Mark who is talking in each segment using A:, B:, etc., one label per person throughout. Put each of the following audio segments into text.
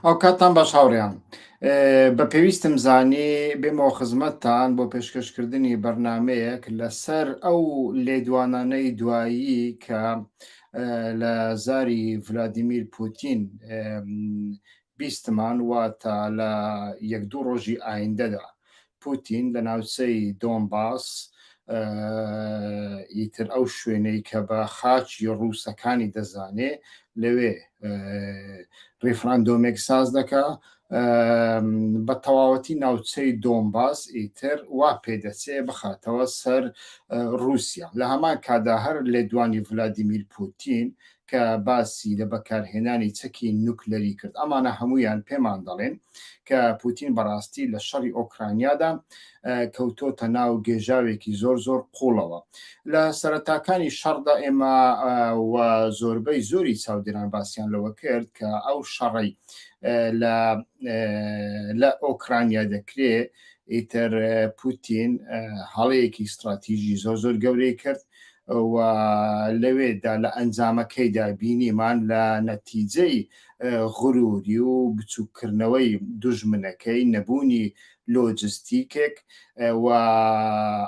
A: ئەو کاتان باش هاوڕیان بە پێویستم زانی بێمەوە خزمەتتان بۆ پێشکەشکردنی بەرنمەیەک لەسەر ئەو لێدوانانەی دوایی کە لە زاری ڤلادیمیر پوتین بیستمان واتە لە یەک دوو ڕۆژی ئایندەدا پوتین لە ناوچەی دۆنباس ئیتر ئەو شوێنەی کە بە خاچی ڕووسەکانی دەزانێ لەوێ ڕیفراندۆمێک ساز دەکا بە تەواوەتی ناوچەی دۆمباس ئیتر وا پێدەچێ بخاتەوە سەر رووسیا لە هەمان کادا هەر لێدوانی ڤلادیمیر پوتین کە باسی لە بەکارهێنانی چەکی نوکلەری کرد، ئەمانە هەموویان پێمان دەڵێن کە پوتین بەڕاستی لە شەڕی ئۆکرانیادا کەوتۆتە ناو گێژاوێکی زۆر زۆر قوڵەوە. لە سەرەتاکانی شەڕدا ئێمە و زۆربەی زۆری چاودێران باسییان لەوە کرد کە ئەو شەڕی لە ئۆکرانیا دەکرێ ئیتر پوتین هەڵەیەکی ستراتیژی زۆر زۆر گەورەی کرد و لەوێدا لە ئەنجامەکەیدا بینیمان لە نەتیجەی غروری و بچوککردنەوەی دوژمنەکەی نەبوونی لۆجستیکێک و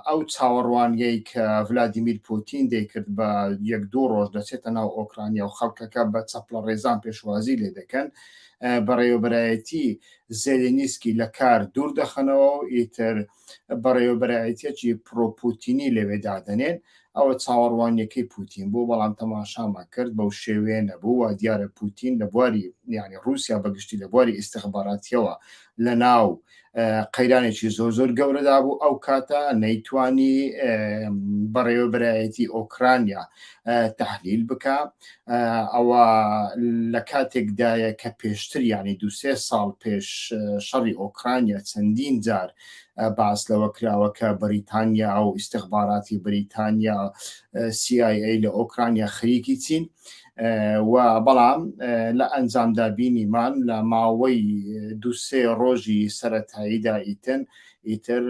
A: ئەو چاوەڕوانیەی کە ڤلادیمیر پوتین دەیکرد بە یەک دوو ڕۆژ دەچێتە ناو ئۆکرانیا و خەڵکەکە بە چەپڵە ڕێزان پێشوازی لێ دەکەن بەڕێوەبەرایەتی زێلێنیسکی لە کار دوور دەخەنەوە و ئیتر بەڕێوەبەرایەتیەکی پرۆپوتینی لەوێ دادەنێن، ئەوە چاوەڕوانیەکەی پوتین بوو، بەڵام تەماشامان کرد بەو شێوەیە نەبوو، وادیارە پوتین لە بواری یانی ڕوسیا بە گشتی لە بواری ئیستخباراتیەوە لەناو قەیرانێکی زۆر زۆر گەورەدا بوو، ئەو کاتە نەیتوانی بەڕێوەبەرایەتی ئۆکرانیا تحلیل بکە ئەوە لە کاتێکدایە کە پێشتر ینی دوسێ ساڵ پێش شەڕی ئۆکرانیا چەندین جار باس لەوە کراوە کە بەریتانیا و ئیسیخباراتی بریتانیا CIA لە ئۆکرانیا خەریکی چین و بەڵام لە ئەنجامدا بینیمان لە ماوەی دوسێ ڕۆژی سەتاییدا ئیتن ئیتر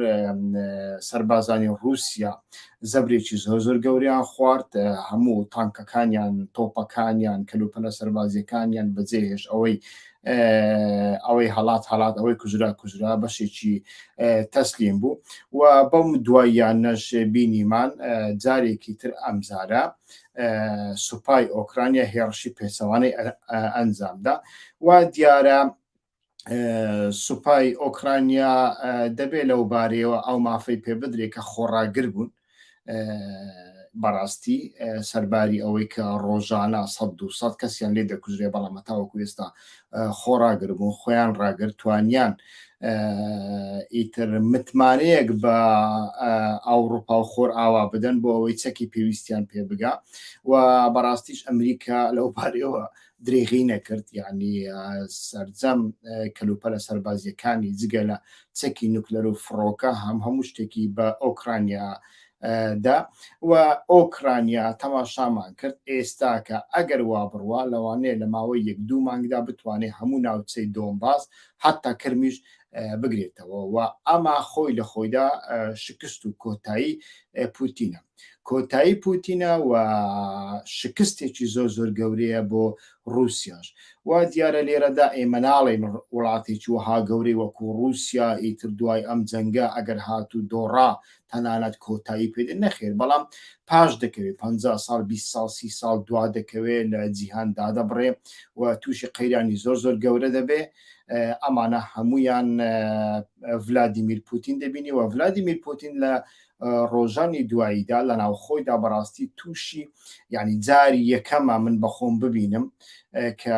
A: سەربازانی ڕووسیا زەبرێکی زۆر زۆر گەوریان خوارد هەموو تانکەکانیان تۆپەکانیان کەلوپەلە سەربازیەکانیان بەجێهێش ئەوەی ئەوەی هەڵات هەڵات ئەوەی کوژرا کوژرا بەشێکی تەسلیم بوو و بەم دواییان نەش بینیمان جارێکی تر ئەمزارە سوپای ئۆکرانیا هێڕشی پێچەوانەی ئەنجامدا و دیارە سوپای ئۆکرانیا دەبێت لەو بارەیەوە ئەو مافەی پێ بدرێت کە خۆڕاگر بوون بەڕاستی سەرباری ئەوەی کە ڕۆژانە 100 کەسیان لێ دەکوژرێ بەڵامەتاوەکو ئێستا خۆڕاگر بوون خۆیان ڕاگرتوانیان ئیتر متمانەیەک بە ئاوروپا و خۆر ئاوا بدەن بۆ ئەوەی چەکی پێویستیان پێ بگا و بەڕاستیش ئەمریکا لەو پارەوە دریغی نەکرد یانی سەرجەم کەلوپەلە سەربازیەکانی جگە لە چەکی نوکلەر و فڕۆکە هەم هەموو شتێکی بە ئۆکرانیا دا و ئۆکرانیا تەماشامان کرد ئێستاکە ئەگەر وا بڕوا لەوانەیە لە ماوەی یەک دوو مانگدا بتوانێت هەموو ناوچەی دۆمباس حتا کرمیش بگرێتەوە و ئەما خۆی لە خۆیدا شکست و کۆتایی پوتینە کۆتایی پوتینە و شکستێکی زۆر زۆر گەورەیە بۆ رووسیاش وا دیارە لێرەدا ئێمە ناڵێن وڵاتێکی وەها گەورەی وەکو رووسیا ئیتر دوای ئەم جەنگە ئەگەر هات و دۆڕا تەنانەت کۆتایی پێدە نەخێر بەڵام پاش دەکەوێت پ سال 20 سال سی سال دوا دەکەوێت لە جیهان دادەبڕێ و تووشی قەیرانی زۆر زۆر گەورە دەبێ ئەمانە هەمویان ڤلادیمیر پوتین دەبینی و ڤلادیمیر پوتین لە ڕۆژانی دواییدا لە ناوخۆیدا بەڕاستی تووشی یعنی جاری یەکەمە من بەخۆم ببینم کە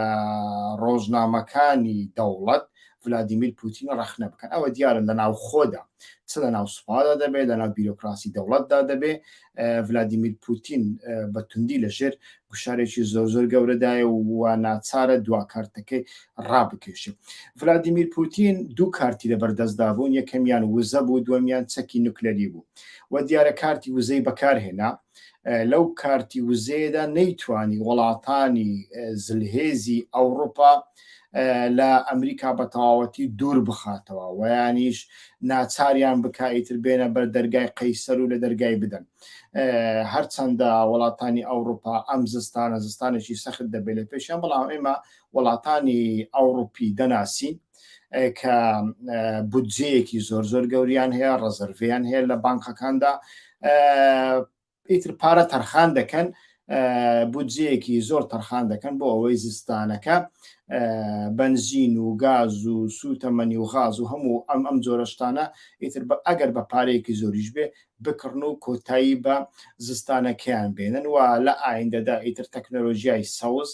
A: ڕۆژنامەکانی دەوڵەت ولادیمیر پوتین ڕەخنە بکەن ئەوە دیارە لە ناو خۆدا چ لە ناو سوپادا دەبێت لە ناو بیرۆکراسی دەوڵەتدا دەبێت ولادیمیر پوتین بە توندی لەژێر گوشارێکی زۆر زۆر گەورەدایە و وا ناچارە دوا کارتەکەی ڕابکێشێت. ڤلادیمیر پوتین دوو کارتی لەبەردەستدا بوون، یەکەمیان وزە بوو، دووەمیان چەکی نوکلەری بوو و دیارە کارتی وزەی بەکارهێنا. لەو کارتی وزەیەدا نەیتوانی وڵاتانی زلهێزی ئەوڕوپا لە ئەمریکا بە تەواوەتی دوور بخاتەوە، وەیانیش ناچاریان بکا ئیتر بێنە بەر دەرگای قەیسەر و لە دەرگای بدەن. هەرچەندە وڵاتانی ئەوروپا ئەم زستانە زستانێکی سەخت دەبێت لە پێشیان بەڵام ئێمە وڵاتانی ئەوروپی دەناسین کە بودجەیەکی زۆر زۆر گەوریان هەیە ڕزرڤیان هەیە لە بانکەکاندا ئیتر پارە تەرخان دەکەن بودجەیەکی زۆر تەرخان دەکەن بۆ ئەوەی زستانەکە بەنزین و گاز و سووتەمەنی و غاز و هەموو ئەم ئەم جۆرەشتانە ئیتر بە ئەگەر بە پارەیەکی زۆریش بێ بکڕن و کۆتایی بە زستانەکەیان بێنن و لە ئایندەدا ئیتر تەکنەلۆژیای سەوز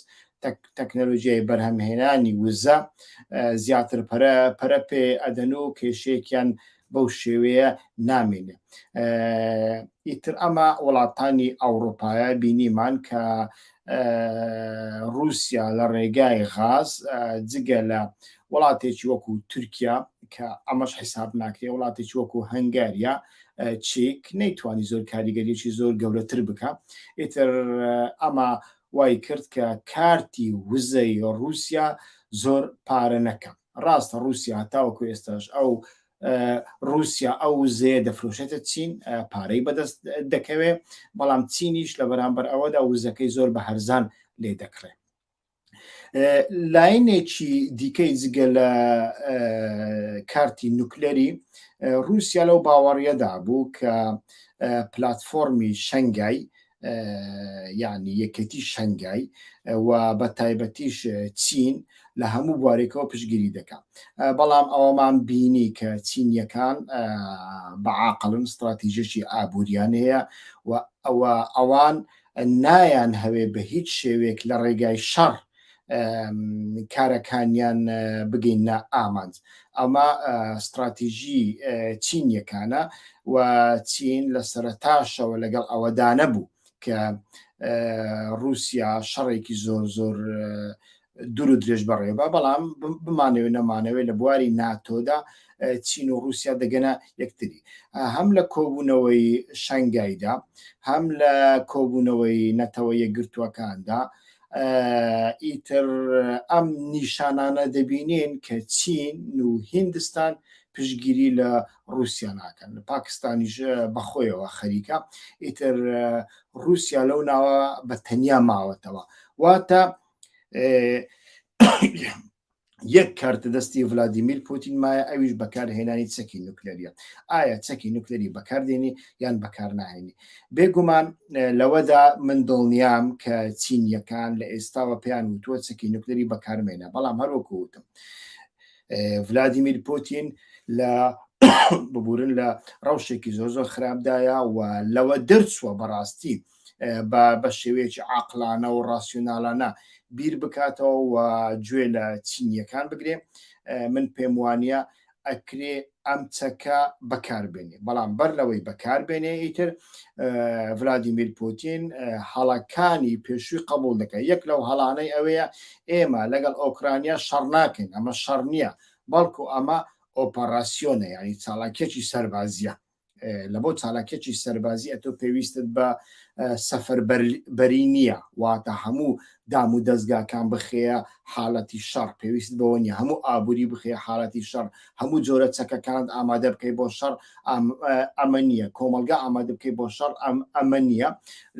A: تەکنەلۆژیای بەرهەمهێنانی وزە زیاتر پەرە پەرە پێ ئەدەن و کێشێکیان بەو شێوەیە نامێنێ ئیتر ئەمە وڵاتانی ئەوروپایە بینیمان کە رووسیا لە ڕێگای غاز جگە لە وڵاتێکی وەکو تورکیا کە ئەمەش حیساب ناکرێ وڵاتێکی وەکو هەنگاریا چیک نەیتوانی زۆر کاریگەریی زۆر گەورەتر بکە ئیتر ئەمە وای کرد کە کارتی وزەی رووسیا زۆر پارە نەکەم ڕاستە ڕووسیا هەتاوەکو ئێستاش ئەو رووسیا ئەو وزەیە دەفرۆشێتە چین پارەی بەدەست دەکەوێ بەڵام چینیش لە بەرامبەر ئەوەدا وزەکەی زۆر بە هەرزان لێ دەکڕێ لاینێکی دیکەی جگە لە کارتی نوکلەری رووسیا لەو باوەڕیەدا بوو کە پلتفۆرمی شنگای یعنی یەکێتی شەنگای و بە تایبەتیش چین لە هەموو بوارێکەوە پشگیری دەکات بەڵام ئەوەمان بینی کە چینیەکان بەعاقلن استراتیژێکی ئابووریان هەیە و ئەوە ئەوان نایان هەوێ بە هیچ شێوێک لە ڕێگای شەڕ کارەکانیان بگەینە ئامانج ئەمە ستراتیژی چینیەکانە و چین لە سەرتاشەوە لەگەڵ ئەوەدانە بوو کە رووسیا شەڕێکی زۆر زۆر دوور و درێژ بەڕێبە بەڵام بمانەوێت نەمانەوێت لە بواری ناتۆدا چین و رووسیا دەگەنە یەکتری هەم لە کۆبوونەوەی شنگایدا هەم لە کۆبوونەوەی نەتەوە یەکگرتووەکاندا ئیتر ئەم نیشانانە دەبینین کە چین و هندستان پشگیری لە رووسیا ناکەن لە پاکستانیش بەخۆیەوە خەریکە ئیتر رووسیا لەو ناوە بە تەنیا ماوەتەوە واتە یەک کارتە دەستی ڤلادیمیر پوتین مایە ئەویش بەکارهێنانی چەکی نوکلەریە ئایا چەکی نوکلەری بەکاردێنی یان بەکار ناهێنی بێگومان لەوەدا من دڵنیام کە چینیەکان لە ئێستاوە پێیان وتووە چەکی نوکلەری بەکارمێنە بەڵام هەروەکو وتم ڤلادیمیر پوتین لە ببورن لە ڕەوشێکی زۆر زۆر خراپدایە و لەوە دەرچووە بەڕاستی بە بە شێوەیەکی عقلانە و ڕاسیۆناالانە بیر بکاتەوە و گوێ لە چینیەکان بگرێ من پێم وانە ئەکرێ ئەم چەکە بەکاربێنێ بەڵام بەر لەوەی بەکاربێنێ ئیتر ڤلادیمیر پوتین هەڵەکانی پێشووی قبول دەکە یەک لەو هەڵانەی ئەوەیە ئێمە لەگەڵ ئۆکرانیا شەڕ ناکەین ئەمە شەڕ نییە بەڵکو ئەمە ئۆپەراسیۆنە یعنی چاڵاکێکی سەربازیە لە بۆ چالاکێکی سەربازی ئەتۆ پێویستت بە سەفەر بەری نییە واتە هەموو دام و دەستگاکان بخەیە حالەتی شەڕ پێویست بەوە نیە هەموو ئابووری بخەیە حالەتی شەڕ هەموو جۆرە چەکەکان ئامادە بکەی بۆ شەڕ ئەمە نییە کۆمەلگا ئامادە بکەی بۆ شەڕ ئەم ئەمە نییە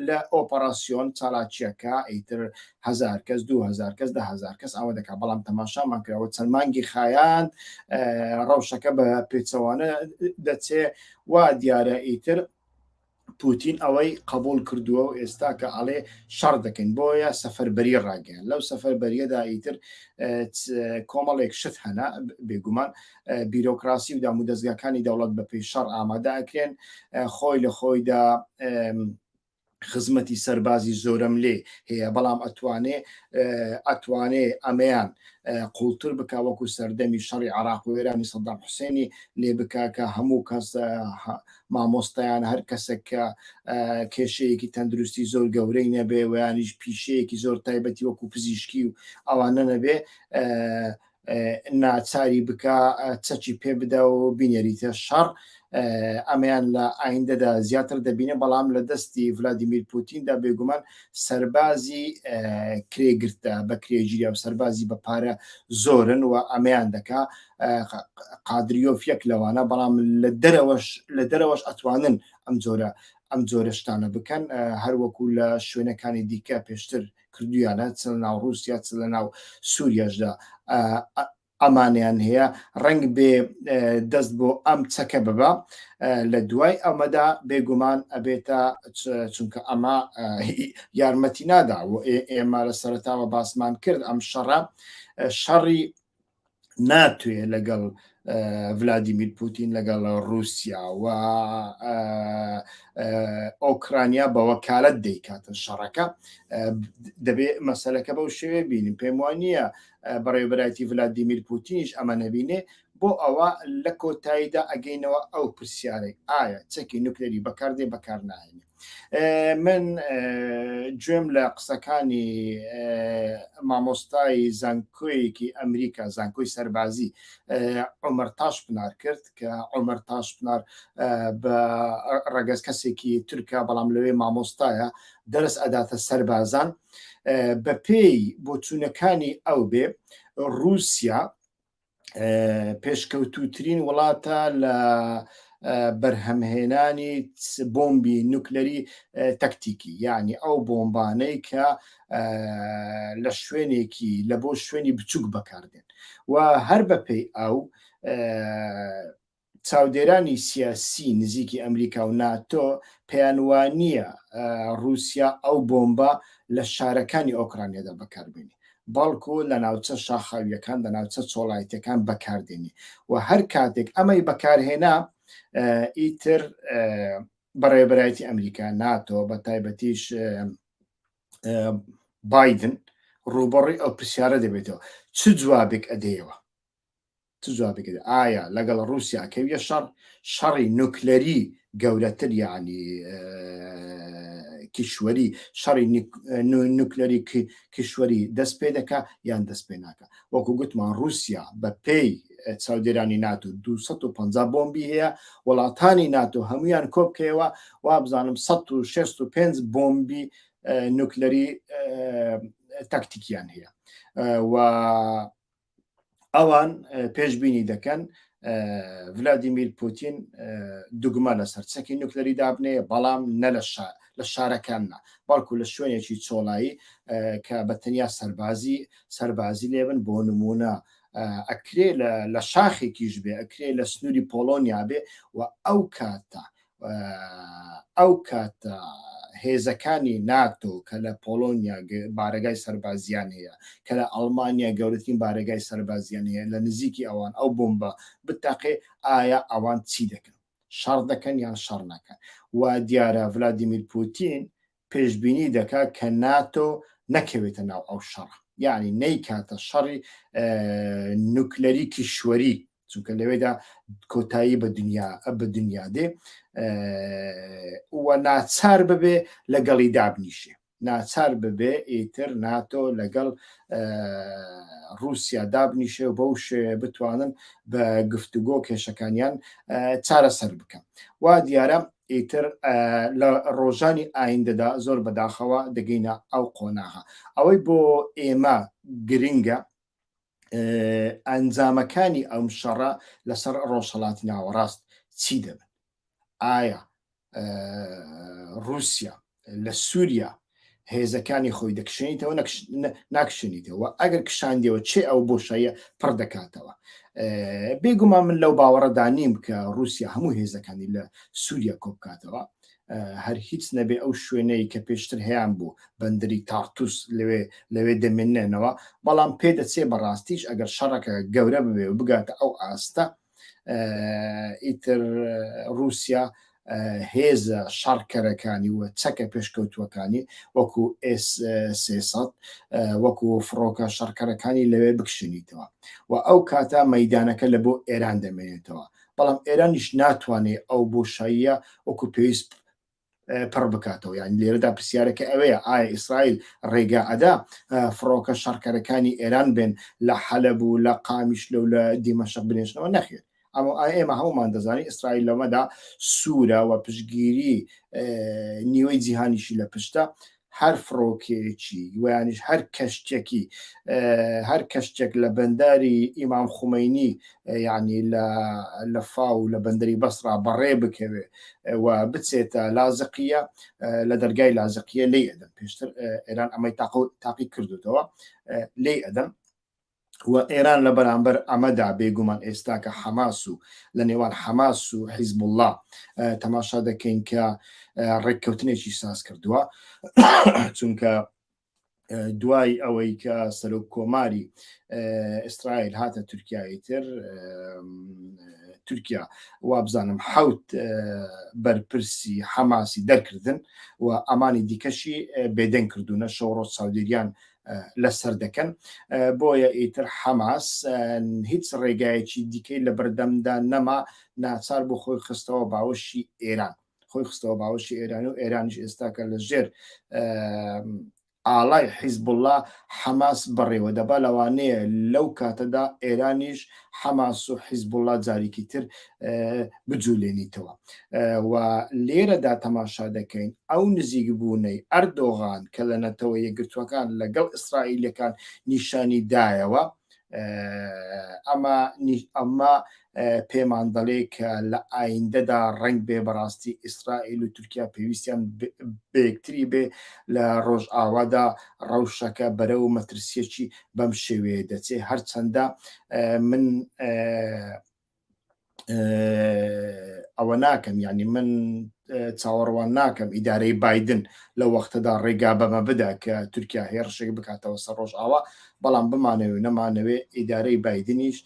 A: لە ئۆپەراسسیۆن چالاکیەکە ئیتر هەزار کەس دوو هەزار کەس دە هەزار کەس ئەوە دەکات بەڵام تەماشامان کراوە چەند مانگی خایاند ڕەوشەکە بە پێچەوانە دەچێ وا دیارە ئیتر پوتین ئەوەی قبول کردووە و ئێستا کە ئەڵێ شەڕ دەکەین بۆیە سەفەربەری ڕاگەیان لەو سەفەربەریەدا ئیتر کۆمەڵێک شت هەنا بێگومان بیرۆکراسی و دام و دەستگاکانی دەوڵەت بەپی شەڕ ئامادەکرێن خۆی لە خۆیدا خزمەتی سەربازی زۆرەملێ هەیە بەڵام ئەتوانێ ئەتوانێ ئەمەیان قوڵتر بک وەکو سەردەمی شەڕی عراق و وێرانی سەدام حوسێنی لێ بککە هەموو کەس مامۆستایان هەر کەسێک کە کێشەیەکی تەندروستی زۆر گەورەی نەبێ ویانیش پیشەیەکی زۆر تایبەتی وەکو پزیشکی و ئەوانە نەبێ ناچاری بکە چەکی پێ بدە و بینێریتە شەڕ ئەمەیان لە ئایندەدا زیاتر دەبینێ بەڵام لە دەستی ڤلادیمیر پوتیندا بێگومان سەربازی کرێگرتە بە کرێژیریا و سەربازی بە پارە زۆرن و ئەمەیان دەکا قادریۆف یەک لەوانە بەڵام لە دەرەوەش لە دەرەوەش ئەتوانن ئەم جۆرە ئەم جۆرە شتانە بکەن هەروەکو لە شوێنەکانی دیکە پێشتر کردویانە چ لەناو ڕوسیا چ لەناو سوریاشدا ئەمانیان هەیە ڕنگ بێ دەست بۆ ئەم چەکە ببە لە دوای ئەمەدا بێگومان ئەبێتە چونکە ئەمە یارمەتی نادا ئێمە لە سەرتاوە باسمان کرد ئەم شەڕە شەڕی ناتوێ لەگەڵ ڤلادیمیر پوتین لەگەڵ رووسیا و ئۆکرانیا بەوە کالت دەیکاتن شەڕەکە دەبێت مەسلەکە بەو شێوێ بینیم پێم وانە بەڕێبراتی ڤلادیمیر پوتینش ئەمە نەبینێ بۆ ئەوە لە کۆتاییدا ئەگەینەوە ئەو پرسیارێک ئایا چەکی نوکلێری بەکاردێ بەکار ناهێنێ من گوێم لە قسەکانی مامۆستای زانکۆیەکی ئەمریکا زانکۆی سەربازی عمر تاش پنار کرد کە عمر تاش پنار بە ڕەگەز کەسێکی تورکە بەڵام لەوێ مامۆستایە دەرس ئەداتە سەربازان بە پێی بۆچوونەکانی ئەو بێ رووسیا پێشکەوتوترین وڵاتە لە بەرهەمهێنانی بۆمبی نوکلەری تەکتیکی یعنی ئەو بۆمبانەی کە لە شوێنێکی لە بۆ شوێنی بچووک بەکاردێن و هەر بەپێی ئەو چاودێرانی سیاسی نزیکی ئەمریکا و ناتۆ پێیان وانییە ڕووسیا ئەو بۆمبە لە شارەکانی ئۆکرانیادا بەکاربێنی بەڵکو لە ناوچە شاخاویەکان لە ناوچە چۆڵایتەکان بەکاردێنی و هەر کاتێک ئەمەی بەکارهێنا ئیتر بەڕێبەرایەتی ئەمریکا ناتۆ بە تایبەتیش بادن ڕووبڕی ئەو پرسیارە دەبێتەوە چ جوابێک ئەدەیەوە چ جوابێک ئەدەی ئایا لەگەڵ ڕوسیا ئەکەویە شەڕ شەڕی نوکلەری گەورەتر یعنی کیشوەری شەڕی نوکلەری کیشوەری دەست پێ دەکا یان دەست پێ ناکە وەکو گوتمان رووسیا بە پێی چاودێرانی ناتو 250 بۆمبی هەیە وڵاتانی ناتو هەمویان کۆبکەوە وا بزانم 1665 بۆمبی نوکلەری تاکتیکیان هەیە و ئەوان پێشببینی دەکەن ڤلادیمیر پوتین دوگمە لەسەر چەکی نوکلەری دابنێ بەڵام نە لە شار لە شارەکاننا بەڵکو لە شوێنێکی چۆڵایی کە بە تەنیا سەربازی سەربازی لێبن بۆ نمونە ئەکرێ لە شاخێکیش بێ ئەکرێ لە سنووری پۆلۆنیا بێ و ئەو کاتە ئەو کاتە هێزەکانی ناتۆ کە لە پۆلۆنیا بارەگای سەربازیان هەیە کە لە ئەڵمانیا گەورەترین بارەگای سەربازیان هەیە لە نزیکی ئەوان ئەو بمبە بتاقێ ئایا ئەوان چی دەکەن شەڕ دەکەن یان شەڕ نەکەن و دیارە ولادیمیر پوتین پێشبینی دەکات کە ناتۆ نەکەوێتە ناو ئەو شەڕە یعنی نەیکاتە شەڕی نوکلەری کیشوەری چونکە لەوێدا کۆتایی بە دنیا بە دنیا دێ وە ناچار ببێ لەگەڵی دابنیشێ ناچار ببێ ئیتر ناتۆ لەگەڵ رووسیا دابنیشێ و بەو شێ بتوانن بە گفتوگۆ کێشەکانیان چارەسەر بکەن وا دیارە ئیتر لە ڕۆژانی ئایندەدا زۆر بەداخەوە دەگەینە ئەو قۆناغە ئەوەی بۆ ئێمە گرنگە ئەنجامەکانی ئەم شەڕە لەسەر ڕۆژهڵاتی ناوەڕاست چی دەبن ئایا رووسیا لە سوریا هێزەکانی خۆی دەکشێنیتەوە ناکشێنیتەوە ئەگەر کشاندەوە چێ ئەو بۆشایە پڕ دەکاتەوە بێگومان من لەو باوەڕەدا نیم کە رووسیا هەموو هێزەکانی لە سووریا کۆبکاتەوە هەر هیچ نەبێ ئەو شوێنەی کە پێشتر هەیان بوو بەندری تارتوس لەوێ لەوێ دەمێنێنەوە بەڵام پێدەچێ بەڕاستیش ئەگەر شەڕەکە گەورە ببێ و بگاتە ئەو ئاستە ئیتر رووسیا هێزە شەڕکەرەکانی و چەکە پێشکەوتووەکانی وەکو ئێسسەد وەکو فڕۆکە شەڕکەرەکانی لەوێ بکشنیتەوە و ئەو کاتە مەدانەکە لە بۆ ئێران دەمێنێتەوە بەڵام ئێرانیش ناتوانێت ئەو بۆشاییە وەکو پێویست پڕ بکاتەوە یان لێرەدا پرسیارەکە ئەوەیە ئایا ئیسرائیل ڕێگا ئەدا فڕۆکە شەڕکەرەکانی ئێران بێن لە حەلب و لە قامیش لەو لە دیمەشق بنێشنەوە نەخێت ئەمە ئێمە هەمومان دەزانین ئیسرائیل لەمەدا سوورە و پشگیری نیوەی جیهانیشی لە پشتە هەر فڕۆکەیەکی ویانیش هەر کەشتێکی هەر کەشتێک لە بەنداری ئیمام خومینی یعنی لە فاو لە بەندەری بەسرا بەڕێ بکەوێ و بچێتە لازقیە لە دەرگای لازقیە لی ئەدەم پێشتر ئێران ئەمەی تاقی کردوتەوە لی ئەدەم و ئێران لە بەرامبەر ئەمەدا بێگومان ئێستا کە حەماس و لە نێوان حەماس و حیزبوڵڵا تەماشا دەکەین کە ڕێککەوتنێکی ساز کردووە چونکە دوای ئەوەی کە سەرۆک کۆماری ئیسرائیل هاتە تورکیایی تر تورکیا وابزانم حوت بەرپرسی حەماسی دەرکردن و ئەمانی دیکەشی بێدەنگ کردوونە شەوڕۆ چاودێریان لەسەر دەکەن بۆیە ئیتر حەماس هیچ ڕێگایەکی دیکەی لە بەردەمدا نەما ناچار بۆ خۆی خستەوە باوەشی ئێران خۆی خستەوە باوەشی ئێران و ئێرانش ئێستاکە لە ژێر ئاڵای حیزبله حەماس بەڕێوە دەبا لەوانەیە لەو کاتەدا ئێرانیش حەماس و حیزبوڵا جاریکی تر بجولێنیتەوە و لێرەدا تەماشا دەکەین ئەو نزیک بوونەی ئەردۆغان کە لە نەتەوە یەکگرتووەکان لەگەڵ ئیسرائیلەکان نیشانی دایەوە ئەمە ئەمە پێمان دەڵێ کە لە ئایندەدا ڕنگ بێ بەڕاستی ئیسرائیل و تورکیا پێویستیان بەکتری بێ لە ڕۆژئاوادا ڕەوشەکە بەرە و مەترسیەکی بەم شێوەیە دەچێ هەرچەندە من ئەوە ناکەم ینی من چاوەڕوان ناکەم ئیدارەی بادن لە وەختەدا ڕێگا بەمە بدا کە تورکیا هێرشێک بکاتەوە سەر ڕۆژ ئاوا بەڵام بمانەوێ نەمانەوێ ئیدارەی بادنیش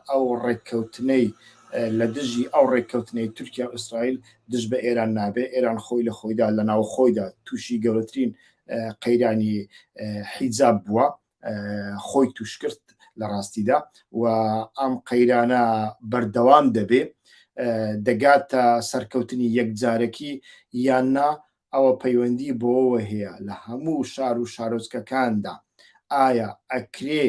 A: ئەو ڕێککەوتنەی لە دژی ئەو ڕێککەوتنەی تورکیا ئوسرائیل دژ بە ئێران نابێ ئێران خۆی لە خۆیدا لە ناو خۆیدا تووشی گەورەترین قەیرانی حیجاب بووە خۆی توشکرد لە ڕاستیدا و ئەم قەیرانە بەردەوام دەبێ دەگاتە سەرکەوتنی یەکجارەکی یان نا ئەوە پەیوەندی بۆەوە هەیە لە هەموو شار و شارۆچکەکاندا ئایا ئەکرێ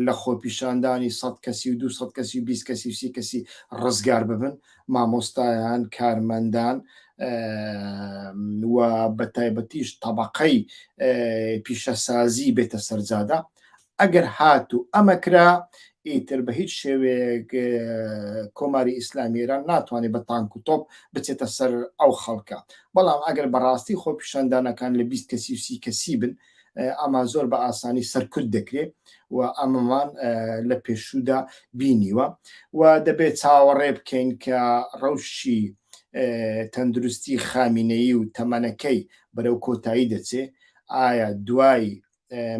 A: لە خۆپیشاندانی سەد کەسی و دوو سەد کەسی و بیست کەسی و سی کەسی ڕزگار ببن مامۆستایان کارمەندان و بە تایبەتیش تەبقەی پیشەسازی بێتە سەرجادا ئەگەر هات و ئەمەکرا ئیتر بە هیچ شێوەیەک کۆماری ئیسلامی ئێران ناتوانێت بە تانک و تۆپ بچێتە سەر ئەو خەڵکە بەڵام ئەگەر بەڕاستی خۆپیشاندانەکان لە بیست کەسی و سی کەسی بن ئەمان زۆر بە ئاسانی سەرکوت دەکرێ و ئەمەمان لە پێشوودا بینیوە و دەبێت چاوەڕێ بکەین کە ڕەوشی تەندروستی خامینەی و تەمەنەکەی بەرەو کۆتایی دەچێ ئایا دوای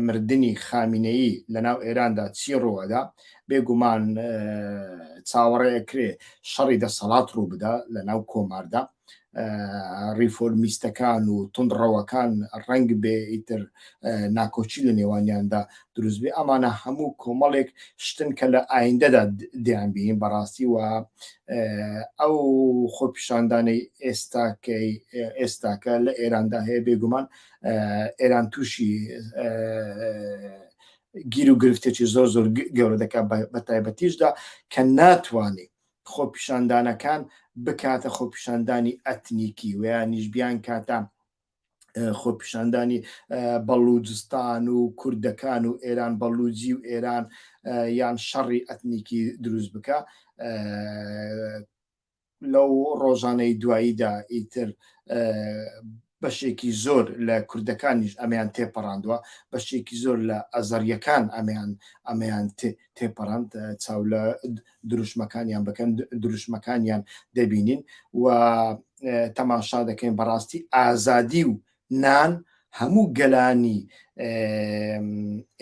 A: مردنی خامینەی لەناو ئێراندا چی ڕوەدا بێگومان چاوەڕێکرێ شەڕی دەسەڵات ڕوو بدا لە ناو کۆماردا ڕیفۆرمیستەکان و تونڕەوەکان ڕەنگ بێ ئیتر ناکۆچی لە نێوانیاندا دروست بێ ئەمانە هەموو کۆمەڵێک شتن کە لە ئایندەدا دیان بین بەڕاستی و ئەو خۆپیشاندانەی ئێستاکەی ئێستاکە لە ئێراندا هەیە بێگومان ئێران تووشی گیر و گرفتێکی زۆر زۆر گەورە دەکات بە تایبەتیشدا کە ناتوانێت خۆپیشاندانەکان بکاتە خۆپیشاندانی ئەتنیکی ویانیش بیان کاتە خۆپیشاندانی بەڵوجستان و کوردەکان و ئێران بەڵوجی و ئێران یان شەڕی ئەتنیکی دروست بکە لەو ڕۆژانەی دواییدا ئیتر بەشێکی زۆر لە کوردەکانیش ئەمەیان تێپەڕاندوە، بەشێکی زۆر لە ئەزەڕیەکان ئەمەیان ئەمەیان تێپەڕاند، چاو لە دروشمەکانیان بکەن دروشمەکانیان دەبینین و تەماشا دەکەین بەڕاستی ئازادی و نان هەموو گەلانی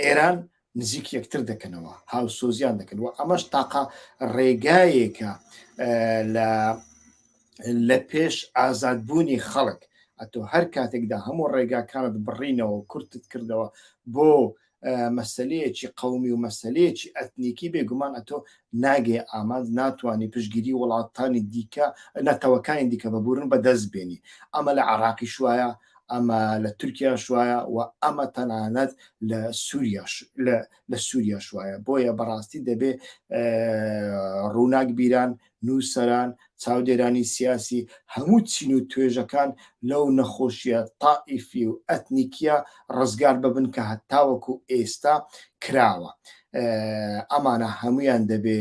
A: ئێران نزیک یەکتر دەکەنەوە هاوسۆزیان دەکەن و ئەمەش تاقا ڕێگایەکە لە لە پێش ئازادبوونی خەڵک ئەتۆ هەر کاتێکدا هەموو ڕێگاکانت بڕینەوە کورتت کردەوە بۆ مەسلەیەکی قومی و مەسلەیەکی ئەتنیکی بێگومان ئەتۆ ناگەی ئامانج ناتوانی پشتگیری وڵاتانی دیکە نەتەوەکانی دیکە ببورن بە دەست بێنی ئەمە لە عێراقیش وایە ئەمە لە تورکیاش وایە وە ئەمە تەنانەت لە سوریاش لە لە سوریاش وایە بۆیە بەڕاستی دەبێ ڕووناک بیران نووسەران چاودێرانی سیاسی هەموو چین و توێژەکان لەو نەخۆشیە تائیفی و ئەتنیکیە ڕزگار ببن کە هەتاوەکو ئێستا کراوە ئەمانە هەموویان دەبێ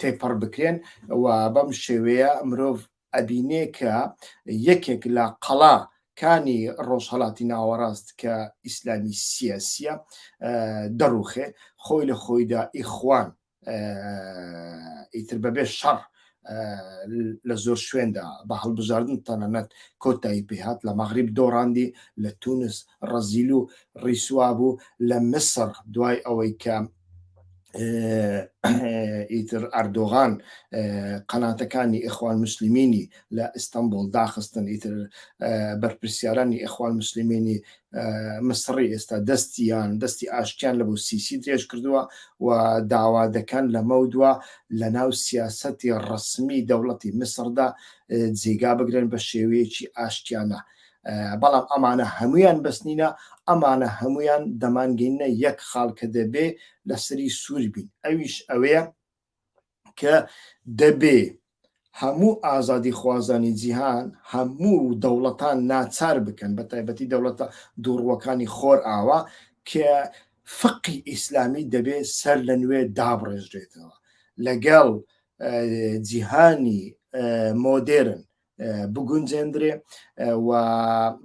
A: تێپەڕ بکرێن و بەم شێوەیە مرۆڤ ئەبینێ کە یەکێک لە قەڵا کانی ڕۆژهڵاتی ناوەڕاست کە ئیسلامی سیاسیە دەڕوخێ خۆی لە خۆیدا ئیخوان ئیتر بەبێ شەڕ لە زۆر شوێندا بە هەڵبژاردن تەنەنەت کۆتایی پێهات لە مەغریب دۆڕاندی لە تونس ڕەزیل و ڕیسوا بوو لە مسر دوای ئەوەی کە ئیتر ئەردۆغان قەناتەکانی ئەخوان مسللمینی لە ئیستانبول داخستن ئیتر بەرپرسیارانی ئەخوان مسللمینی مسڕی ئێستا دەستیان دەستی ئاشتیان لە بۆ سیسی درێژ کردووە و داوا دەکەن لەمەو دووە لە ناو سیاسەتی ڕسمی دەوڵەتی مسڕدا جێگا بگرن بە شێوەیەکی ئاشتیانە بەڵام ئەمانە هەمویان بەستنینە ئەمانە هەمویان دەمانگەینە یەک خاڵکە دەبێ لەسری سوور بین ئەویش ئەوەیە کە دەبێ هەموو ئازادیخوازانی جیهان هەموو دەوڵەتان ناچار بکەن بە تایبەتی دەوڵەتە دووڕوەکانی خۆر ئاوا کە فقی ئیسلامی دەبێ سەر لە نوێ دابڕێژرێتەوە لەگەڵ جیهانی مۆدێرن بگونجێندرێ و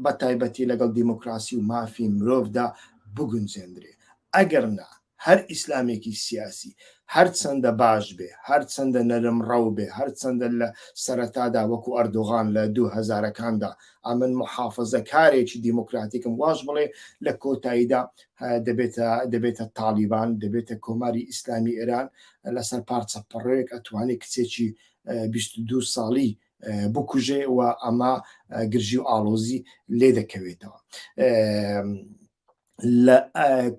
A: بە تایبەتی لەگەڵ دیموکراسی و مافی مرۆڤدا بگونجێندرێ ئەگەر نا هەر ئیسلامێکی سیاسی هەرچەندە باش بێ هەرچەندە نەرم ڕەو بێ هەرچەندە لە سەرەتادا وەکو ئەردوغان لە دوو هزارەکاندا ئەمن محافظە کارێکی دیموکراتیکم واش بڵێ لە کۆتاییدا دەبێتە دەبێتە تاالبان دەبێتە کۆماری ئیسلامی ئێران لەسەر پارچە پڕێک ئەتوانی کچێکی بیست و دوو ساڵی بکوژێ و ئەمە گرژی و ئاڵۆزی لێ دەکەوێتەوە. لە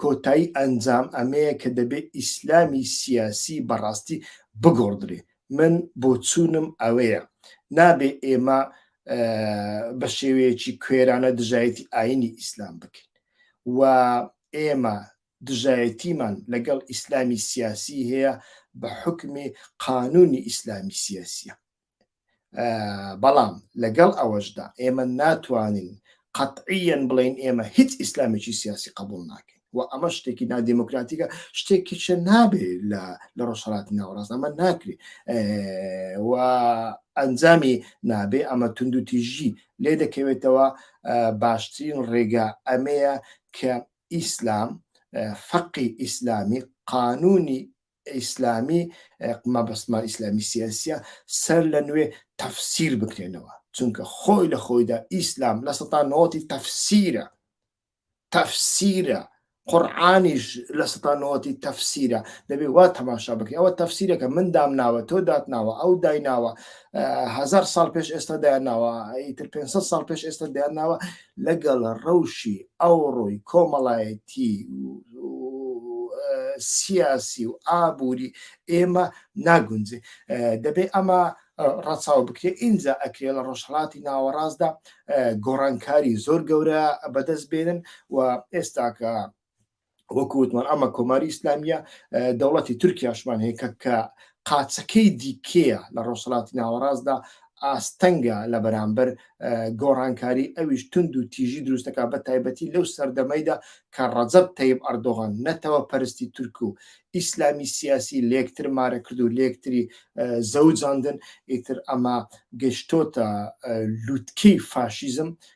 A: کۆتایی ئەنجام ئەمەیە کە دەبێت ئیسلامی سیاسی بەڕاستی بگۆڕدرێ من بۆچوونم ئەوەیە نابێ ئێمە بە شێوەیەکی کوێرانە دژایەتی ئاینی ئیسلام بکەین و ئێمە دژایەتیمان لەگەڵ ئیسلامی سیاسی هەیە بە حوکمی قانونی ئیسلامی سیاسیە بەڵام لەگەڵ ئەوەشدا ئێمە ناتوانین قەتعیەن بڵین ئێمە هیچ ئیسلامێکی سیاسی قبول ناکەین و ئەمە شتێکی نادیموکراتیکە شتێکی چە نابێ لە لە ڕۆژهڵات ناوەڕاست ئەمە ناکرێ و ئەنجامی نابێ ئەمە تونند و تیژی لێ دەکەوێتەوە باشترین ڕێگا ئەمەیە کە ئیسلام، فقی ئیسلامی، قانونی ئیسلامی، مەبەستمان ئیسلامی سیاسیە، سەر لە نوێ تەفسیر بکرێنەوە، چونکە خۆی لە خۆیدا ئیسلام لە سەتا نەوەتی تەفسیرە، تەفسیرە، قورعانیش لە سەتا نەوەتی تەفسیرە، دەبێ وا تەماشا بکەی، ئەوە تەفسیرەکە من دامناوە، تۆ داتناوە، ئەو دایناوە، هەزار ساڵ پێش ئێستا دایانناوە، ئیتر پێنج سەد ساڵ پێش ئێستا دایانناوە، لەگەڵ ڕەوشی ئەوڕۆی کۆمەڵایەتی و سیاسی و ئابووری ئێمە ناگونجێ دەبێ ئەمە ڕەچاو بکرێ ئینجا ئەکرێ لە ڕۆژهڵاتی ناوەڕاستدا گۆڕانکاری زۆر گەورە بەدەست بێنن و ئێستاکە وەکو وتمان ئەمە کۆماری ئیسلامیە دەوڵەتی تورکیاشمان هەیە کە کە قاچەکەی دیکەیە لە ڕۆژهڵاتی ناوەڕاستدا ئاستەنگە لە بەرامبەر گۆڕانکاری ئەویش تونند و تیژی دروستەکە بە تایبەتی لەو سەردەمەیدا کە ڕەجەب تەیب ئەردۆغان نەتەوە پەرستی تورک و ئیسلامی سیاسی لەکتر مارە کرد و لەکتری زەوجاندن ئیتر ئەمە گەشتۆتە لووتکی فاشیزم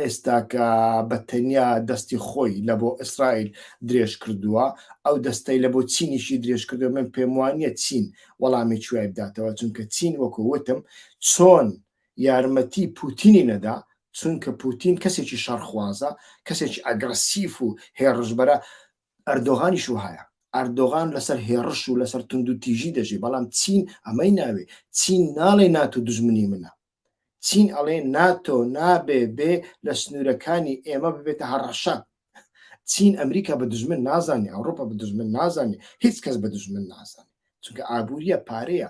A: ئێستاکە بە تەنیا دەستی خۆی لە بۆ ئیسرائیل درێژ کردووە ئەو دەستەی لە بۆ چینیشی درێژ کردو من پێم وانە چین وەڵامی کوێ بداتەوە چونکە چین وەکو وتم چۆن یارمەتی پوتینی نەدا چونکە پوتین کەسێکی شەڕخوازە کەسێکی ئەگرسیف و هێڕژبەرە ئەردۆغانیش و هەیە ئەردۆغان لەسەر هێڕش و لەسەر تونند و تیژی دەژی بەڵام چین ئەمەی ناوێ چین ناڵێ ناتو دژمنی منە چین ئەڵێ ناتۆ نابێ بێ لە سنوورەکانی ئێمە ببێتە هەڕەشە چین ئەمریکا بە دژمن نازانێ ئەوروپا بە دژمن نازانێ هیچ کەس بە دژمن نازانێ چونکە ئابوووریە پارەیە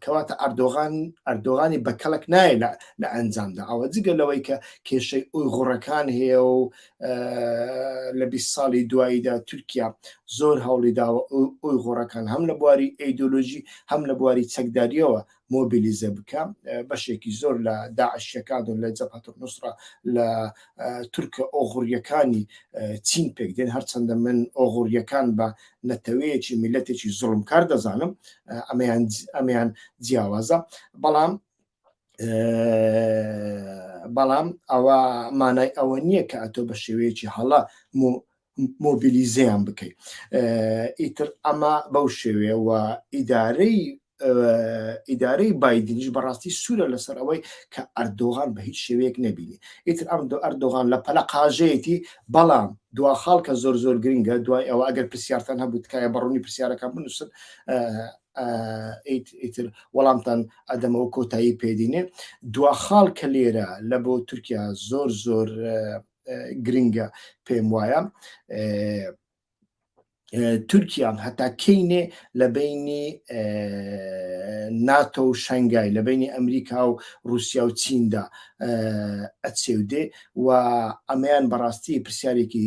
A: کەواتە ئەردۆغان ئەردۆغانی بە کەڵک نایە لە ئەنجامدا ئەوە جگە لەوەی کە کێشەی ئەوی غوڕەکان هەیە و لە 20 ساڵی دواییدا تورکیا زۆر هەوڵی داوە ئەوی غوڕەکان هەم لە بواری ئەیدۆلۆژی هەم لە بواری چەکداریەوە مۆبیلیزە بکە بەشێکی زۆر لە داعشەکان و لە جەبهەتە نوسرە لە تورکە ئۆغڕیەکانی چین پێک دێن هەرچەندە من ئۆغڕیەکان بە نەتەوەیەکی میلەتێکی زڵم کار دەزانم ئەمەیان ئەمیان جیاوازە بەڵام بەڵام ئەوە مانای ئەوە نییە کە ئەتۆ بە شێوەیەکی هەڵە مۆبیلیزەیان بکەی ئیتر ئەمە بەو شێوێەوە ئیدارەی ئیدارەی بادنیش بەڕاستی سوورە لەسەر ئەوەی کە ئەردۆغان بە هیچ شێوەیەک نەبینی ئیتر ئەم دو ئەردۆغان لە پەلە قاژەیەتی بەڵام دوا خاڵ کە زۆر زۆر گرنگە دوای ئەوە ئەگەر پرسیارتان هەبوو تکایە بەڕوونی پرسیارەکان بنووسن ئیتر وەڵامتان ئەدەمەوە کۆتایی پێدینێ دوا خاڵ کە لێرە لە بۆ تورکیا زۆر زۆر گرنگە پێم وایە تورکیان هەتا کەینێ لە بینی ناتۆ و شنگای لە بینی ئەمریکا و رووسیا و چیندا ئەچێودێ و ئەمەیان بەڕاستی پرسیارێکی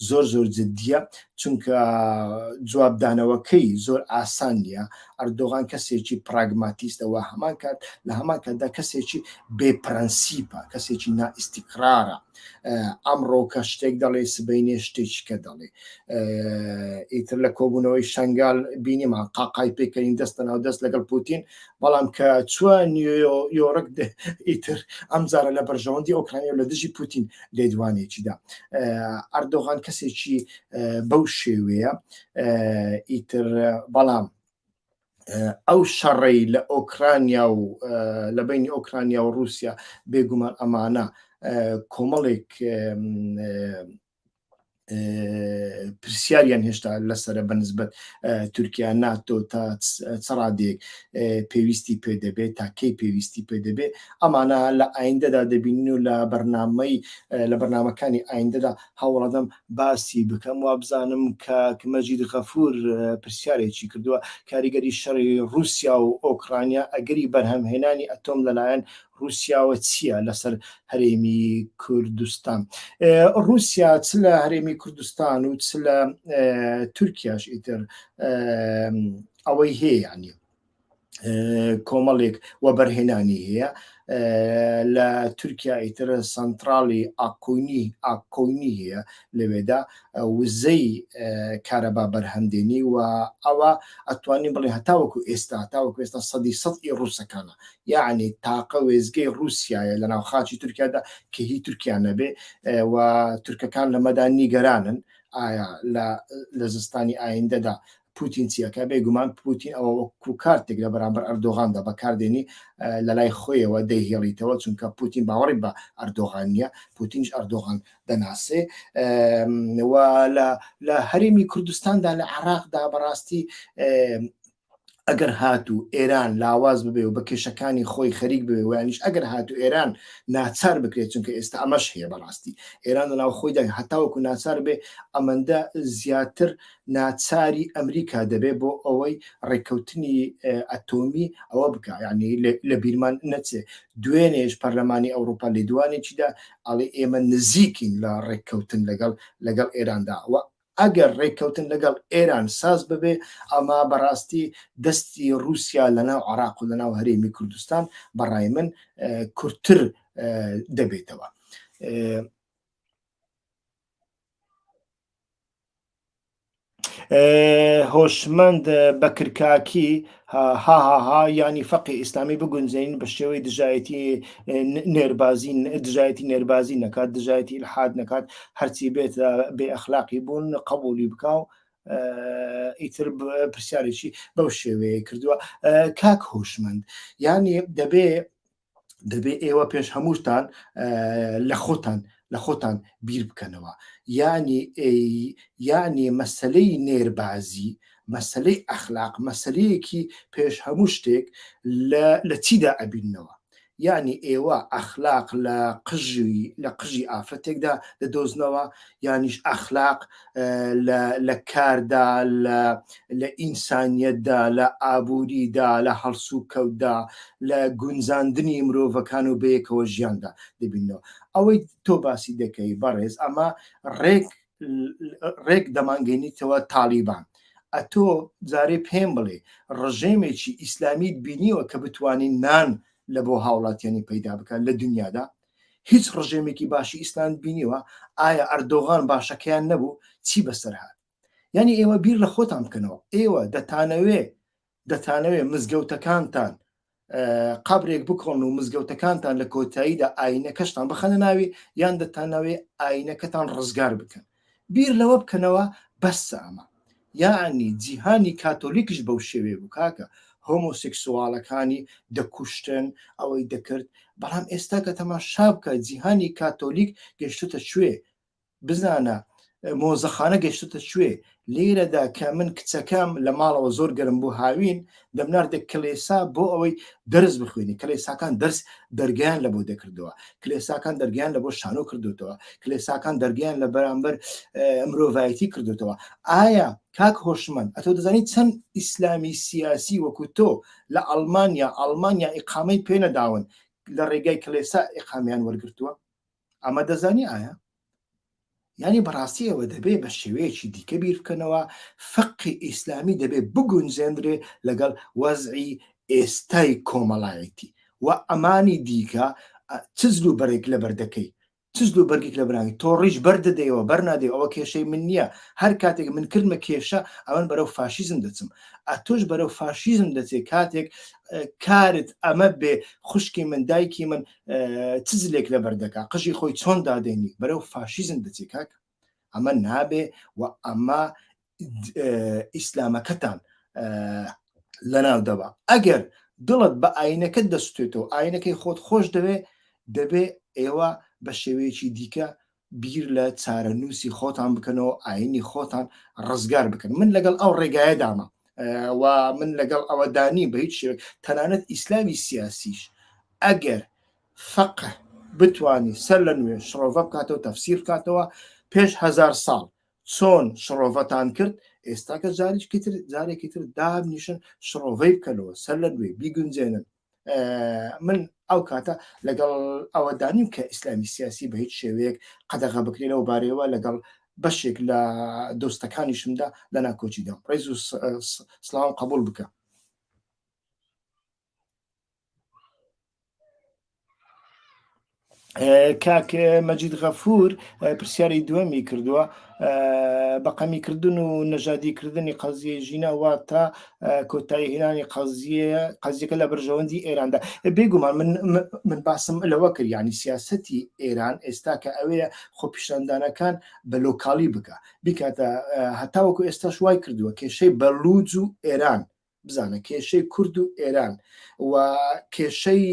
A: زۆر زۆر جددیە چونکە جوابدانەوەکەی زۆر ئاسان نیە ئەردۆغان کەسێکی پراگماتیستەوە هەمان کات لە هەمان کاتدا کەسێکی بێپرەنسیپە کەسێکی نائیسیقرارە ئەمڕۆ کە شتێک دەڵێ سبینێ شتێکی کە دەڵێ ئیتر لە کۆبوونەوەی شنگال بینیمان قاقای پێکەین دەستە ناو دەست لەگەڵ پوتین بەڵام کە چوە نیۆیۆڕک ئیتر ئەم جارە لە بەرژەوەندی ئۆکرانیا لە دژی پوتین لێدوانێکیدا ئەردۆغان کەسێکی بەو شێوەیە ئیتر بەڵام ئەو شەڕی لە ئۆکرانیا و لە بینی ئۆکرانیا و رووسیا بێگومان ئەمانە کۆمەڵێک پرسیاریان هێشتا لەسرە بەنسبەت تورکیا ناتۆ تا چڕادێک پێویستی پێ دەبێت تا کەی پێویستی پێ دەبێت ئەمانە لە ئایندەدا دەبین و لە بەرنمەی لە بەرنمەکانی ئایندەدا هەوڵەدەم باسی بکەم و بزانم کە مەجید غەفور پرسیارێکی کردووە کاریگەری شەڕی رووسیا و ئۆکرانیا ئەگەری بەرهەمهێنانی ئەتۆم لەلایەن ڕوسیاوە چیە لەسەر هەرێمی کوردستان ڕوسیا چ لە هەرێمی کوردستان و چ لە تورکیاش ئیتر ئەوەی هەیە نیە کۆمەڵێک وەبەرهێنانی هەیە لە تورکیا ئیتر سنترالی ئاکۆنی ئاکۆنی هەیە لەوێدا وزەی کارەبا بەرهەمدێنی و ئەوە ئەتوانین بڵێ هەتاوەکو ئێستا تاوەکو ئێستا سەدی سەد ئی ڕووسەکانە یعنی تاقە وێزگەی ڕووسایە لە ناو خاچی تورکیادا کە هی تورکیا نەبێ و تورکەکان لەمەدا نیگەرانن ئایا لە زستانی ئایندەدا پوتین چی ئەکا بێگومان پوتین ئەوە وەکو کارتێک لە بەرامبەر ئەردۆغاندا بەکاردێنی لە لای خۆیەوە دەیهێڵیتەوە چونکە پوتین باوەڕی بە ئەردۆغان نیە پوتینش ئەردۆغان دەناسێ لە هەرێمی کوردستاندا لە عراقدا بەڕاستی ئەگەر هات و ئێران لاواز ببێ و بە کێشەکانی خۆی خەریک بێ ویانش ئەگەر هات و ئێران ناچار بکرێت چونکە ئێستا ئەمەش هەیە بەڕاستی ئێران لەناو خۆیدا هەتاوەکو ناچار بێ ئەمەندە زیاتر ناچاری ئەمریکا دەبێ بۆ ئەوەی ڕێککەوتنی ئەتۆمی ئەوە بکا یعنی لە بیرمان نەچێ دوێنێش پەرلەمانی ئەوروپا لێدوانێکیدا ئەڵێ ئێمە نزیکین لە ڕێککەوتن لەگەڵ لەگەڵ ئێراندا و ئەگەر ڕێککەوتن لەگەڵ ئێران ساز ببێ ئەمە بەڕاستی دەستی ڕووسیا لەناو عراق و لەناو هەرێمی کوردستان بەڕای من کورتتر دەبێتەوە. هۆشمەند بەکر کاکی هاهاها ینی فەقی ئیسلامی بگونجین بە شێوەی دژایەتی نێربازی دژایەتی نێربازی نەکات دژایەتی الحاد نەکات هەرچی بێت بێ ئەخلاقی بوون قبولی بکە و ئیتر پرسیارێکی بەو شێوەیە کردووە کاک هۆشمەند ینی دەبێ دەبێت ئێوە پێش هەمووتان لە خۆتان لە خۆتان بیر بکەنەوە یانی یانی مەسلەی نێربازی مەسلەی ئەخلاق مەسلەیەکی پێش هەموو شتێک لە چیدا ئەبینەوە یعنی ئێوە ئەخلاق لە قژوی لە قژی ئافرەتێکدا دەدۆزنەوە یانیش ئەخلاق لە کاردا لە ئینسانیەتدا لە ئابووریدا لە هەڵسوکەوتدا لە گونجاندنی مرۆڤەکان و بەیەکەوە ژیاندا دەبینەوە ئەوەی تۆ باسی دەکەی بەڕێز ئەمە ڕێک ڕێک دەمانگەینیتەوە تاالبان ئەتۆ جارێ پێم بڵێ ڕژێمێکی ئیسلامیت بینیوە کە بتانی نان لە بۆ هاوڵاتیانی پەیدا بکات لە دنیادا هیچ ڕژێمێکی باشی ئیسلاند بینیوە ئایا ئەردۆغان باشەکەیان نەبوو چی بەسەر هاات یعنی ئێوە بیر لە خۆتان بکەنەوە ئێوە دەتانەوێ دەتانەوێ مزگەوتەکانتان قبرێک بکۆن و مزگەوتەکانتان لە کۆتاییدا ئاینەکەشتان بخەنە ناوی یان دەتانەوێ ئاینەکەتان ڕزگار بکەن بیر لەوە بکەنەوە بەسە ئەمە یاعنی جیهانی کاتۆلیکش بەو شێوێ بوو کاکە هۆمۆسکسواڵەکانی دەکوشتن ئەوەی دەکرد بەڵام ئێستا کە تەما شابکە جیهانی کاتۆلیک گەشتتە کوێ بزانە مۆزەخانە گەشتتە کوێ لێرەدا کە من کچەکەم لە ماڵەوە زۆر گەرم بوو هاوین دەمناردە کلێسا بۆ ئەوەی دەرس بخوێنی کلێساکان دەرس دەرگیان لە بۆ دەکردەوە کلێساکان دەرگیان لە بۆ شانۆ کردوتەوە کلێساکان دەرگیان لە بەرامبەر مرۆڤایەتی کردوتەوە ئایا کاک هۆشمەند ئەتۆ دەزانی چەند ئیسلامی سیاسی وەکو تۆ لە ئەلمانیا ئەلمانیا ئقامەی پێنەداون لە ڕێگای کلێسا ئقامیان وەرگتووە ئەمە دەزانی ئایا یانی بەڕاستی ئەوە دەبێ بە شێوەیەکی دیکە بیر بکەنەوە فقی ئیسلامی دەبێ بگونجێندرێ لەگەڵ وەزعی ئێستای کۆمەڵایەتی و ئەمانی دیکە چزل و بەرێک لە بەردەکەی چزل و بەرگێک لە برانی تۆڕیش بەردەدەیەوە بەرنادەی ئەوە کێشەی من نییە هەر کاتێک من کردمە کێشە ئەمن بەرەو فاشیزم دەچم ئەتۆش بەرەو فاشیزم دەچێت کاتێک کارت ئەمە بێ خوشکی من دایکی من چ زلێک لەبەر دەکا قژی خۆی چۆن دادێنی بەرەو فاشیزم دەچێ کاک ئەمە نابێ و ئەمە ئیسلامەکەتان لەناو دەبا ئەگەر دڵت بە ئاینەکە دەستێتەوە ئاینەکەی خۆت خۆش دەوێ دەبێ ئێوە بە شێوەیەکی دیکە بیر لە چارەنووسی خۆتان بکەنەوە ئاینی خۆتان ڕزگار بکەن من لەگەڵ ئەو ڕێگایەدامە و من لەگەڵ ئەوەدانی بە هیچ شێوێک تەنانەت ئیسلامی سیاسیش ئەگەر فەقه بتانی سەر لە نوێ شڕۆڤە بکاتەوە تەفسیر بکاتەوە پێش هزار ساڵ چۆن شڕۆڤەتان کرد ئێستا کە جاریشکەتر جارێکی تر دابنیشن شڕۆڤەی بکەنەوە سەر لە نوێ بیگونجێنن من ئەو کاتە لەگەڵ ئەوە دانیم کە ئیسلامی سیاسی بە هیچ شێوەیەک قەدەغە بکرێنەوە بارەوە لەگەڵ بەشێک لە دۆستەکانیشمدا لە ناکۆچیدا ڕێز و سلااو قبول بکە کاک مەجید غەفور پرسیاری دووەمی کردووە بەقەمیکردن و نەژادیکردنی قەزیە ژینە واتە کۆتایی هێنانی قەزیە قەزیەکە لە بەرژەوەندی ئێراندا بێگومان من من باسم لەوە کرد ینی سیاستی ئێران ئێستا کە ئەوەیە خۆپیشاندانەکان بە لۆکالی بکە بیکاتە هەتاوەکو ئێستاش وای کردووە کێشەی بەلوج و ئێران بزانە کێشەی کورد و ئێران و کێشەی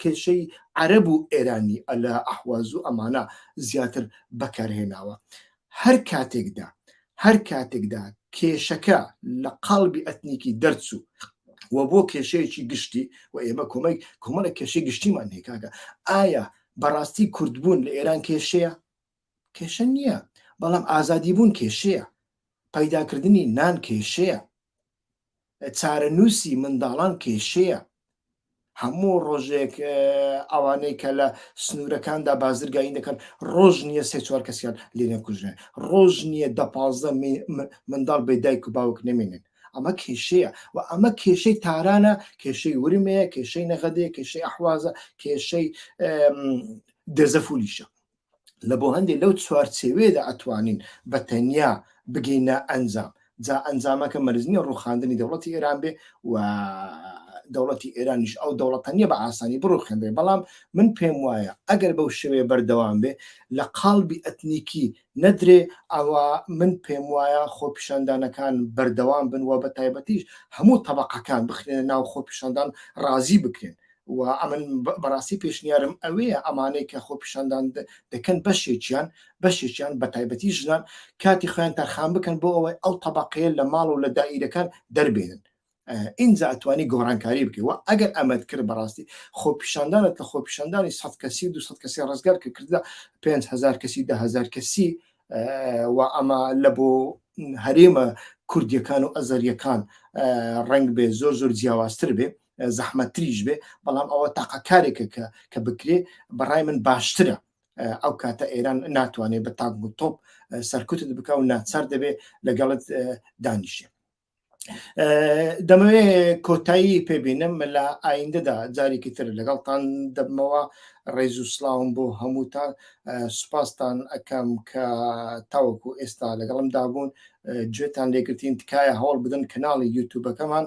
A: کێشەی عەرەب و ئێرانی ئەلە ئەحواز و ئەمانە زیاتر بەکارهێناوە هەر کاتێکدا هەر کاتێکدا کێشەکە لە قالبی ئەتنیکی دەرچوو و بۆ کێشەیەکی گشتی و ئێمە کۆمەک کۆمەڵە کێشەی گشتیمان هێکاکە ئایا بەڕاستی کوردبوون لە ئێران کێشەیە کێشە نییە، بەڵام ئازادیبوون کێشەیە، پەیداکردنی نان کێشەیە، چارەنووسی منداڵان کێشەیە، هەموو ڕۆژێک ئەوانەی کە لە سنوورەکاندا بازرگانی دەکەن ڕۆژ نییە سێ چوار کەسیان لێ نەکوژێن ڕۆژ نییە دە پازدە منداڵ بێ دایک و باوک نەمێنن ئەمە کێشەیە و ئەمە کێشەی تارانە کێشەی ورمەیە کێشەی نەغەدەیە کێشەی ئەحوازە کێشەی دەزەفولیشە لە بۆ هەندێ لەو چوارچێوەیەدا ئەتوانین بە تەنیا بگەینە ئەنجام جا ئەنجامەکە مەرج نییە ڕووخاندنی دەوڵەتی ئێران بێ و دەوڵەتی ئێرانیش ئەو دەوڵەتە نییە بە ئاسانی بڕوخێنرێ بەڵام من پێم وایە ئەگەر بەو شێوەیە بەردەوام بێ لە قاڵبی ئەتنیکی نەدرێ ئەوە من پێم وایە خۆپیشاندانەکان بەردەوام بن و بە تایبەتیش هەموو تەبقەکان بخرێنە ناو خۆپیشاندان ڕازی بکرێن و ئەمن بەڕاستی پێشنیارم ئەوەیە ئەمانەی کە خۆپیشاندان دەکەن بەشێکیان بەشێکیان بە تایبەتی ژنان کاتی خۆیان تەرخان بکەن بۆ ئەوەی ئەو تەبقەیە لە ماڵ و لە دائیرەکان دەربێنن ئینجا ئەتوانی گۆڕانکاری بکەوە ئەگەر ئەمەد کرد بەڕاستی خۆپیشاندانت لە خۆپیشاندانی سە کەسی دو کەسی ڕزگار کە کردە 5هزار کەسی دههزار کەسی و ئەمە لە بۆ هەرێمە کوردیەکان و ئەزەریەکان ڕنگ بێ زۆر زۆر جیاوازتر بێ زەحمەتتریش بێ بەڵام ئەوە تاقە کارێکە کە کە بکرێ بەڕای من باشترە ئەو کاتە ئێران ناتوانێت بە تاک و تۆپ سەرکوتت بکە و ناچار دەبێت لەگەڵت دانیشێ دەمەوێ کۆتایی پێبینم لە ئایندەدا جارێکی تر لەگەڵتان دەبمەوە ڕێز و سلااوم بۆ هەمووتان سوپاستان ئەەکەم کە تاوەکو ئێستا لەگەڵم دابوون گوێتان لێگرتین تکایە هەوڵ بدەن کەناڵی یوتوبەکەمان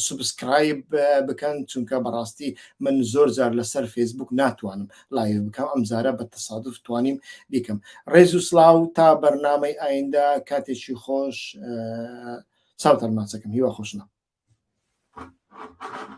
A: سوبسکرایب بکەن چونکە بەڕاستی من زۆر جار لەسەر فێسبوک ناتوانم لایڤ بکەم ئەم زارە بە تەسادف توانیم بیکەم ڕێز و سلااو تا بەرنامەی ئایندە کاتێکی خۆش چاوتان ماچەکەم هیوا خۆشنە Thank you.